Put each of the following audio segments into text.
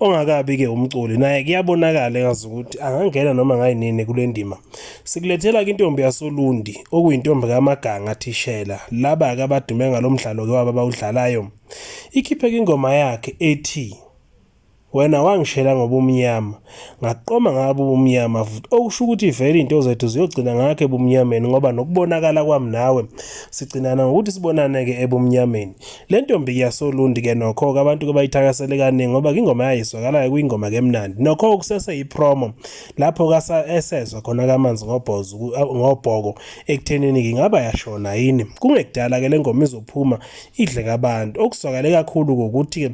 ongakabi ke umculi naye kuyabonakala engazi ukuthi angangena noma ngayinini kule ndima sikulethela ke intombi yasolundi okuyintombi kamaganga thishela laba ke abadume ngalo mdlalo ke waba bawudlalayo ikhiphe ingoma yakhe ethi wena wangishela ngobumnyama ngaqoma ngabo ubumnyama futhi okusho ukuthi vele into zethu ziyogcina ngakhe ebumnyameni ngoba nokubonakala kwami nawe sigcinana ngokuthi sibonane-ke ebumnyameni Le ntombi iyasolundi ke nokho abantu ke bayithakasele kaningi ngoba ingoma yayizwakalayo kwingoma ke mnandi nokho kusese yipromo lapho kasa esezwa khona kamanzi ngobhozo ngobhoko ekuthenini ngingaba yashona yini kungekudala ke lengoma izophuma idle kabantu okuzwakale kakhulu ukuthi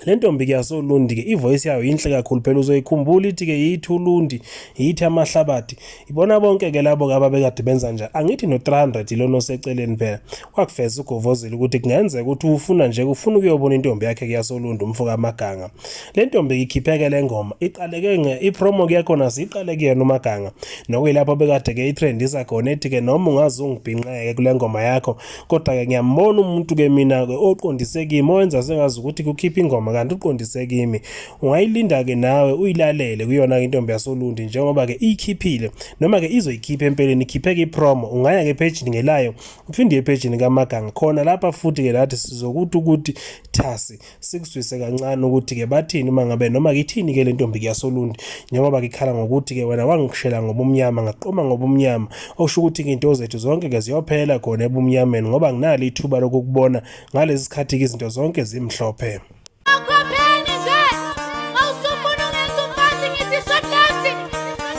le ntombi-ke yasolundi-ke ivoyisi yayo yinhle kakhulu phela uzoyikhumbula ithi-ke yithi ulundi yithi amahlabathi ibona bonke-ke labo-ke ababekade benza njani angithi no-300 ilona oseceleni phela wakufeza ugovozile ukuthi kungenzeka ukuthi ufuna nje ufuna ukuyobona intombi yakhe kuyasolundi umfo kamaganga le ntombi-ke ikhipheke le ngoma iqaleke ipromo kuyakhona siyiqale kuyena umaganga nokuyilapho bekade-ke itrendisa khona ethi-ke noma ungaze ungibhinqeke kule ngoma yakho kodwa ke ngiyambona umuntu ke mina ke oqondise kimi owenza sengazi ukuthi kukhipha ingoma kanti uqondise kimi ungayilinda ke nawe uyilalele kuyona ke intombi yasolundi njengoba ke iyikhiphile noma ke izoyikhipha empeleni ikhiphe ke promo ungaya ke page ngelayo uphinde epage kaMaganga khona lapha futhi ke lathi sizokuthi ukuthi thasi sikuzwise kancane ukuthi-ke bathini uma ngabe noma ngithini-ke le ntombi kuyasolundi njengoba ngikhala ngokuthi-ke wena wangishela ngobumnyama ngaqoma ngobumnyama okusho ukuthi-ke into zethu zonke-ke ziyophela khona ebumnyameni ngoba nginalo ithuba lokukubona ngalesi sikhathi-ke izinto zonke zimhlophe